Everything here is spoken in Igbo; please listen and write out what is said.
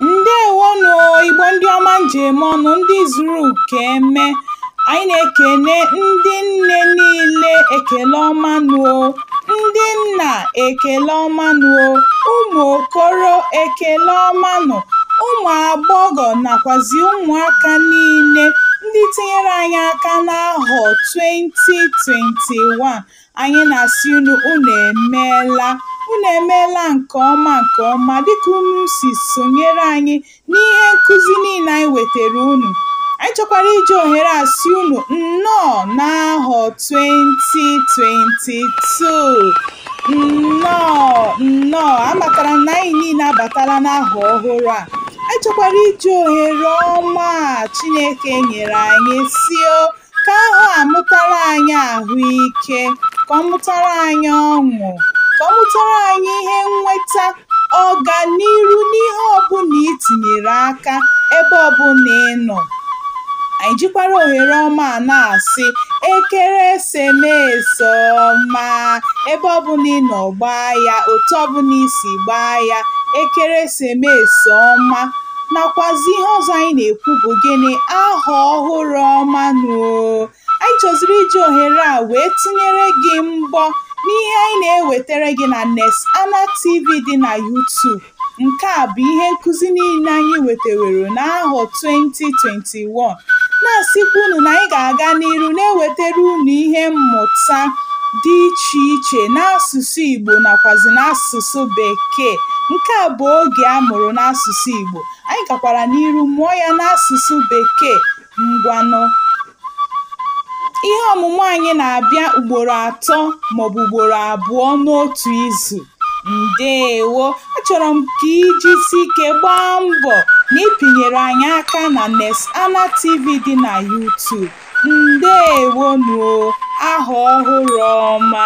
ndewonụ igbo ndị ọma m ji eme ọnụ ndị zuru ka eme anyị na-ekene ndị nne niile ekele ọma nụ o ndị nna ekele ọma nụ o ụmụ okoro ekele ọma nụ ụmụ agbọghọ nakwazi ụmụaka niile ndị tinyere anyị aka n'ahọ 2021 Anyị na-asị unu unu emeela unu emeela nke ọma nke ọma dịka unu si sonyere anyị n'ihe nkụzi niile anyị wetara unu anyị chọkwara iji ohere a sị unu nnọọ n'ahọ 2022 nnọọ nnọọ amatara na anyị niile abatala n'ahọ ọhụrụ a anyị chọkwara iji ohere ọma a chineke nyere anyị sị o ka ahọ a mụtara anyị ahụike ka ọ mụtara anyị ọṅụ ka ọ mụtara anyị ihe nweta ọganiru n'ihe ọbụla i tinyere aka ebe ọbụla ị nọ anyị jikwara ohere ọma a na-asị ekeresimesi ọma ebe ọbụla ị nọ gbaa ya otu ọbụla i si gbaa ya ekeresimesi ọma nakwazi ihe ọzọ anyị na-ekwu bụ gịnị ahọ ọhụrụ ọma nụ o anyị chọziri iji ohere a wee tụnyere gị mbọ n'ihe anyị na-ewetara gị na Nesana TV dị na YouTube nke a bụ ihe nkụzi niile anyị wetewere n'ahọ 2020 21 na-asịkwa unu na anyị ga-aga n'iru na-ewetara unu ihe mmụta dị iche iche n'asụsụ Igbo nakwazi n'asụsụ Bekee nke a bụ oge a mụrụ n'asụsụ Igbo anyị gakwara n'iru mụọ ya n'asụsụ Bekee ngwanụ ihe ọmụmụ anyị na-abịa ugboro atọ maọbụ ugboro abụọ n'otu izu Ndewo! Achọrọ m ka i jisie ike gbaa mbọ na ị pịnyere anyị aka na Nesana TV dị na YouTube. Ndewonụ o! Ahọ ọhụrụ ọma!